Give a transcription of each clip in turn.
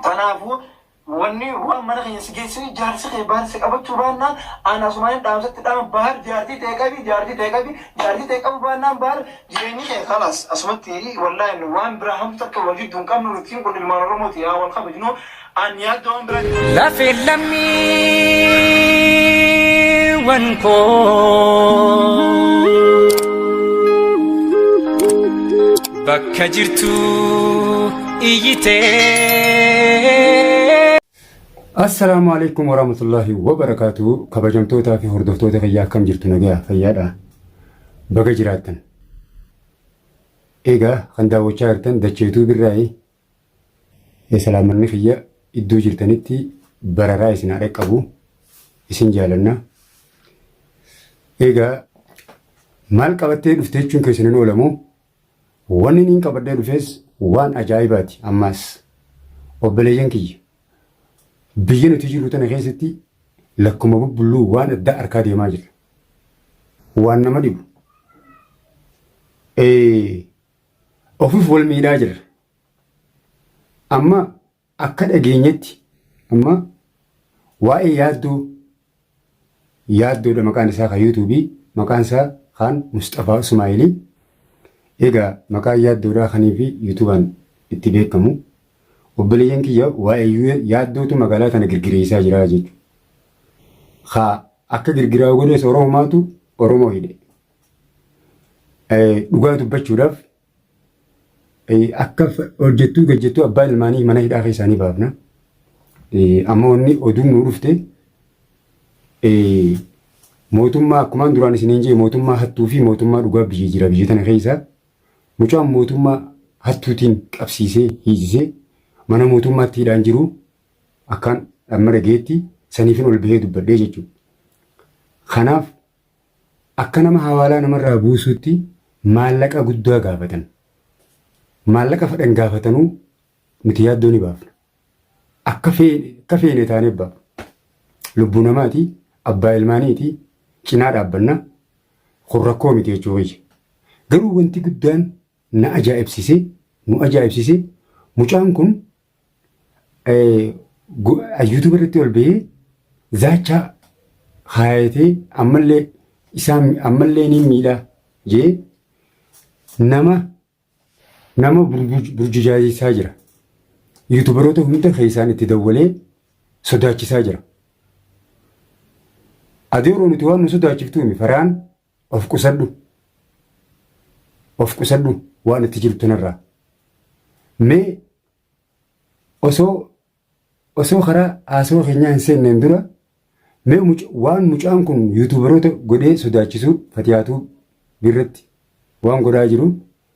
Tanaafuu wanni waan mana keenya si geessee jaarsi kee Baahar si qabachuu baannaan an asumaanin dhaamsatti dhaama Baahar jaartii ta'e qabi jaartii ta'e qabi jaartii ta'e qabu baannaan Baahar jireenyi kee kalaas asumatti wallaahi waan biraa hamtu takka wal jidduu hin qabnu nutiin kun ilmaan Oromooti yaa wal kabajnu an yaaddoo waan biraa jiru. Lafee lammiiwwan koo. Bakka jirtu iyyitee. Assalaamu alaikum warahmatullahi wabarakatuh kabajamtootaa fi hordoftoota fayyaa akkam jirtu nagaa fayyaadha baga jiraattan egaa kan daawwachaa jirtan dacheetuu birraa'e ee salaamanni kiyya iddoo jirtanitti bararaa isin haa dhaqqabu isin jaalanna egaa maal qabattee dhufte jechuun keessan hin oolamu Wanni niin qabadhee dhufees waan ajaa'ibaati ammaas. Obboleeyyan kiyya! Biyya nuti jirru tana keessatti lakkuma bubbulluu waan addaa arkaa deemaa jirra. Waan nama dhibu. Ee, ofif wal miidhaa jirra. Amma Akka dhageenyetti amma waa'ee yaaddoo yaaddoodha maqaan isaa kan yuutuubii maqaan isaa kaan Musxafaa Usmaa'ilii egaa maqaan yaaddoodhaa kanii fi yuutuubaan itti beekamu obboleeyyan kiyya waa'ee yaaddootu magaalaa tana girgireessaa jira jechuudha. Haa akka girgiraa godhees Oromomaatu Oromoo hidhe. Dhugaa dubbachuudhaaf Akka hojjettuu fi gajjettuu abbaa ilmaanii mana hidhaa keessaanii baafna. Amma wanni oduun nuu dhufte mootummaa akkumaan duraan isiniin jee mootummaa hattuu fi mootummaa dhugaa biyya jira biyya tana keessa mucaan mootummaa hattuutiin qabsiisee hiisisee mana mootummaatti hidhaan jiru akkaan dhamma dhageetti saniifin ol bahee dubbadhee jechuudha. Kanaaf Akka nama hawaalaa namarraa buusuutti maallaqa guddaa gaafatan. Maallaqa fedhan gaafatanuu nuti yaaddoo ni baafna. Akka feene taanee abbaa. Lubbuu namaati, abbaa ilmaaniiti, cinaa dhaabbanna. Kun rakkoo miti jechuu kiyya. Garuu wanti guddaan na ajaa'ibsise, nu ajaa'ibsise mucaan kun Yuutuuba irratti ol ba'ee zaachaa haayatee ammallee isaan ammallee ni miidha jee nama nama burjujaajisaa jira. Yuutuubaroota hunda keessaan itti dawwalee sodaachisaa jira. Adeeroo nuti waan nu sodaachiftuumi faraan Of qusadhu. Of qusadhu waan itti jirtu narraa. Mee osoo osoo karaa haasawaa keenyaa hin seenneen dura mee waan mucaan kun yuutuubaroota godhee sodaachisuu fatiyaatu birratti waan godhaa jiru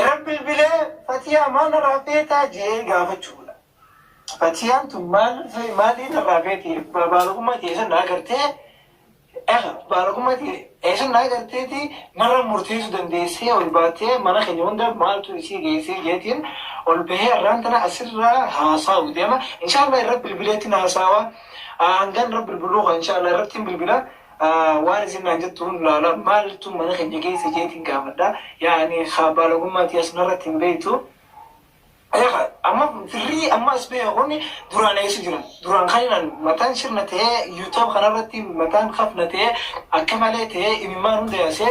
Eran bilbilee fatiyaa maal narraa feetaa je'ee gaafachuudha. Fatiyaan tun maal maalii narraa feeti ba- baalogummaa tiyya san naa gartee eh, baalogummaa tiyya eh, san naa garteeti narra murteessuu dandeessee ol baatee mana keenya hunda maaltu isii geessee jeetiin ol bahee arraan tana asirraa haasaa'u deema. Inshaallah irra bilbileetti na haasaawa. Ah, Hangan irra bilbiluu koo inshaallah irratti hin bilbila. Waan isin naan jettu hunda laala. Maaltu mana keenya geesse jeetiin gaafadha. Yaani haa baalagummaa tiyas narratti hin beektu. Eegaa amma firrii amma as beeku kun duraan eessa jira? Duraan kaninaan mataan sirna ta'ee yuutuub kanarratti mataan kafna ta'ee akka malee ta'ee imimmaan hunda yaasee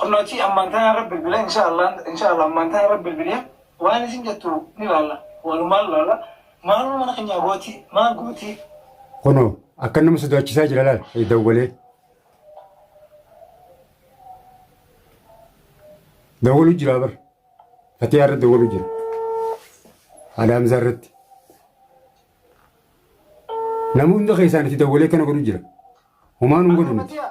Kunno achii ammaan tana irra bilbila insha allah insha allah ammaan tana irra bilbilee waan isin jettu ni laalla walumaan laalla maaluma mana kenyaa gootii maal gootii Kunoo akka nama sodaachisaa jira laal eh, dawwalee. Dawwalu jira bar. Fatiyaa irra dawwalu jira. Haadha Hamzaa irratti. Nama hunda keessaan itti dawwalee kana godhu jira. Homaa nun godhu nuti. Fatiyaa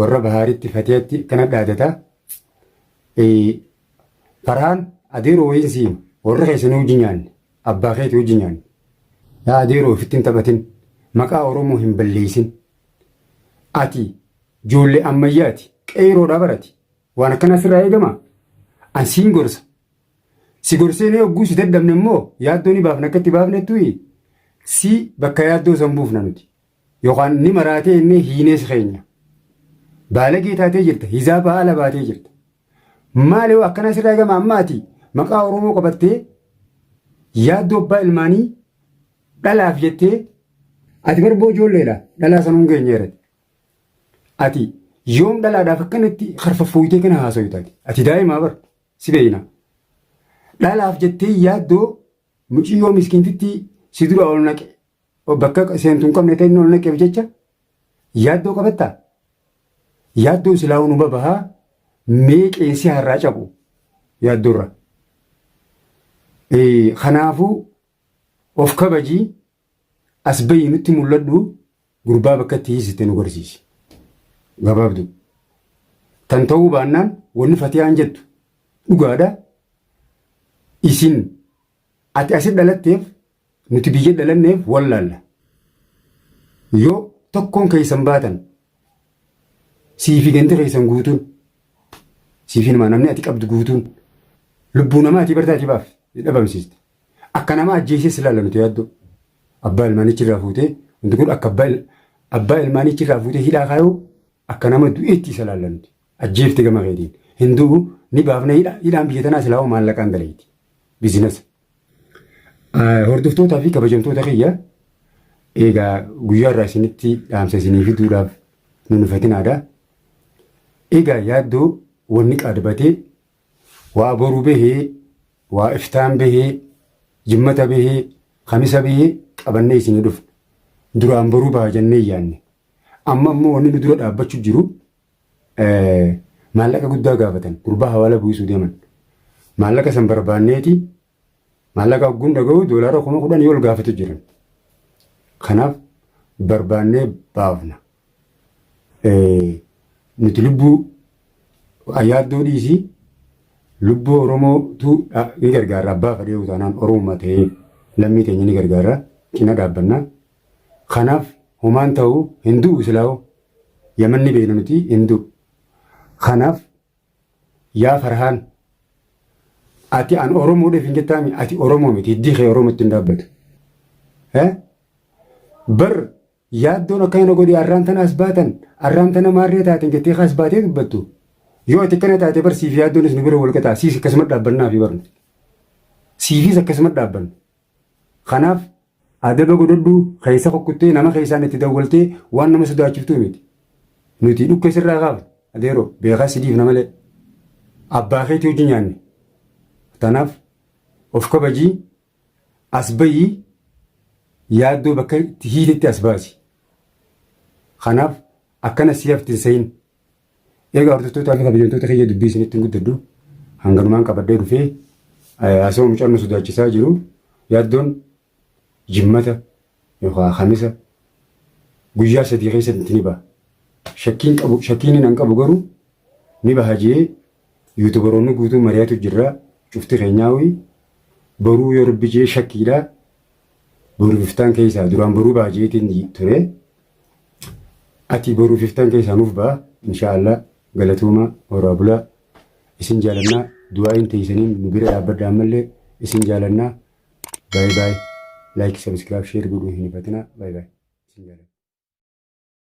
warra bahaaritti fatiyatti akkana dhaadata farhaan adeeroo wayiin siin warra keessanii hojii nyaanne abbaa keetii hojii nyaanne yaa adeeroo ofitti hin taphatin maqaa oromoo hin balleessin ati ijoollee ammayyaati qeeroodhaa barati waan akkana sirraa eegama an siin gorsa si gorsee ni ogguu si dadhabne immoo yaaddoo ni baafna akka itti baafnettu si bakka yaaddoo san buufna nuti Yookaan ni maraatee inni hiinees keenya. Baalagee taatee jirta, hizaabaa ala baatee jirta. Maali hoo akkanaa sirraa eegama amma ati maqaa Oromoo qabattee yaaddoo abbaa ilmaanii dhalaaf jettee ati barboo ijoolleedha dhalaa sanuun geenyeerati. Ati yoom dhalaadhaaf akkanatti karfaffuuyitee kana haasoytaati. Ati daa'imaa bar si beeyna. Dhalaaf jettee yaaddoo muciyyoo miskiintitti si dura ol naqe bakka seentu hin qabne ta'e inni ol naqeef jecha yaaddoo qabattaa? Yaaddoon silaa unuma bahaa mee qeensi har'aa cabu yaaddoorra. Kanaafuu of kabajii as bahi nutti mul'adhu gurbaa bakka itti hiisite nu garsiisi. Gabaabduu. Tan ta'uu baannaan wanni fatiyaan jettu dhugaadha. Isin ati asit dhalatteef Nuti biyya dhalanneef wallaalla. Yoo tokkoon keessan baatan siifi gandi keessan guutuun siifi namaa namni ati qabdu guutuun lubbuu namaa ati bartaati baaf dhabamsiiste. Akka nama ajjeesee si laalla nuti yaaddoo. Abbaa ilmaanichi irraa fuutee wanti kun akka abbaa il- abbaa ilmaanichi irraa fuutee hidhaa kaayuu akka nama du'eetti isa laalla nuti. Ajjeefte gama keetiin. Hin du'u ni baafna hidhaa hidhaan biyya tanaa silaa hoo maallaqaan dalayti. Bizinasa. Hordoftootaa fi kabajamtoota kiyya egaa guyyaa irraa isinitti dhaamsa isinii fiduudhaaf nu nufatinaadha. Egaa yaaddoo wanni qaadbatee waa boru bahee waa iftaan bahee jimmata bahee kamisa bahee qabannee isinii dhufna. Duraan boruu baha jennee yaanne. Amma immoo wanni nu dura dhaabbachuu jiru maallaqa guddaa gaafatan gurbaa hawaala buusuu deeman maallaqa san barbaanneeti maallaqa ogguun dhaga'u doolaara kuma kudhan yoo ol gaafatu jiran kanaaf barbaannee baafna nuti lubbuu yaaddoo dhiisii lubbuu oromootu ni gargaarra abbaa fadhee utaanaan oromummaa ta'ee lammii teenya ni gargaarra cina dhaabbannaa. Kanaaf homaan tahu hin du'u silaahoo yaman ni beeyna nuti hin du'u kanaaf yaa farhaan ati an oromoodheef hin jettaami ati oromoo miti hiddii kee oromootti hin dhaabbatu Eh? bar yaaddoon akka kana godhi arraan tana as baatan arraan tana maarree taatan jettee kaas baatee dubbattu yoo ati akkana taate bar siif yaaddoonis nu bira wal qaxaa siis akkasuma dhaabbannaa fi barnu siifiis akkasuma dhaabbanna kanaaf Adaba godhadhu keessa kukkuttee nama keessaan itti dawwaltee waan nama sodaachiftuu miti. Nuti dhukkee sirraa kaafna adeeroo beekaa si dhiifna malee abbaa keetii hojii nyaanne. Tanaaf of kabajii as bayii yaaddoo bakka itti hiitetti as baasi. Kanaaf akkana si hafti hin sehin. Egaa hordoftoota fi kabajamtoota kiyya dubbii isinitti hin guddadhu. Hanganumaan qabadhee dhufee asoo mucaan nu sodaachisaa jiru yaaddoon jimmata yookaan hamisa guyyaa sadii keessatti ni baha. Shakkiin qabu shakkiin nan qabu garuu ni baha jee yuutubaroonni guutuu mari'atu jirra cufti keenyaawii baruu yoo rabbi jee shakkiidha boru biftaan keessaa duraan baruu baha jeetiin ture. Atii boruu fiftaan keessaa nuuf ba'a inshaa Allah galatoomaa horaa bulaa isin jaalannaa du'aa'iin teeysaniin nu bira dhaabbadha ammallee isin jaalannaa baay baay like subscribe share godhuu hin hifatinaa baay baay isin jaalannaa.